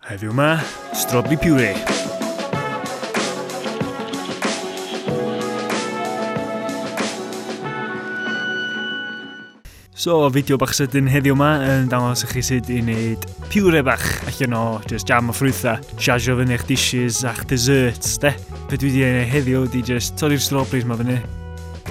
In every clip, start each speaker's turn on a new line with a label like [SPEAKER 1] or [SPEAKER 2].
[SPEAKER 1] Heddiw 'ma, strobli puree. So, fideo bach sydyn heddiw yma yn dangos i chi sut i wneud piwre bach allan o just jam o ffrwytha, siasio fyny eich dishes a'ch desserts, de? Be dwi wedi ei wneud heddiw ydy just torri'r strawberries ma fyny,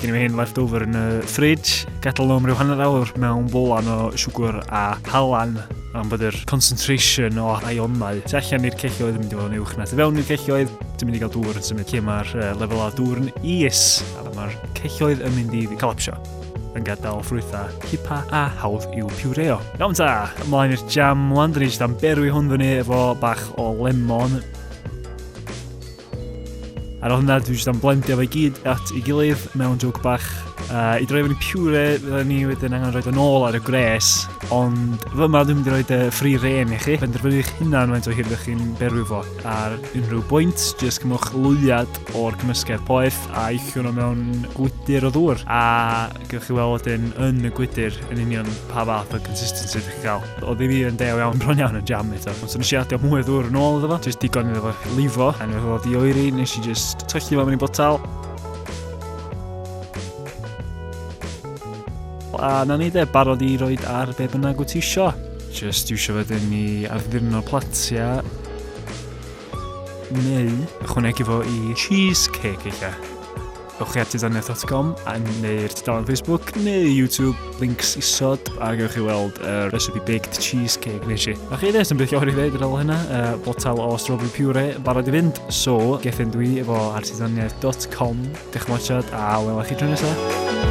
[SPEAKER 1] Gen i hen left over yn y fridge, gadael nhw am ryw hanner awr mewn bolan o siwgr a halan am bod yr concentration o ionau tu allan i'r celloedd yn mynd i fod yn uwch na tu fewn i'r celloedd. Dwi'n mynd i gael dŵr yn symud lle mae'r lefel o dŵr yn is a mae'r celloedd yn mynd i collapsio yn gadael ffrwythau cipa a hawdd i'w piwreo. Iawn ta, ymlaen i'r jam, wan dyn ni eisiau am berwi hwn fyny efo bach o lemon. Ar ôl hynna, dwi jyst am blendio fe gyd at ei gilydd mewn jwg bach. Uh, I droi fe'n pure, fydden ni wedyn angen rhoi yn ôl ar y gres, ond fy yma dwi'n mynd i roi dy ffri ren i chi. Benderfynu eich hunan faint o hir ydych chi'n berwi fo. Ar unrhyw bwynt, jyst cymwch lwyad o'r cymysgedd poeth a eich hwnnw mewn gwydr o ddŵr. A Gewch chi weld wedyn yn y gwydr yn union pa fath o consistency ydych chi'n cael. Oedd i fi yn dew iawn bron iawn yn jam eto. Ond nes i adio mwy o ddŵr yn ôl iddo fo, jyst digon iddo fo lifo. A nes oedd i oeri, nes i jyst tyllu fo mewn i botal. A na ni de, barod i roed ar be bynnag wyt ti isio. Jyst iwsio wedyn i arddirno platia neu ychwanegu fo i cheesecake eich Ewch chi at dudaniaeth.com neu'r tudalen Facebook neu YouTube, links isod, a gewch chi weld y uh, recipe baked cheesecake nes i. A chi ddes yn beth o'r i ddeud ar ôl hynna, uh, botel o strawberry pure barod i fynd, so gethin dwi efo ar tudaniaeth.com. Diolch yn fawr a welwch chi tro nesaf.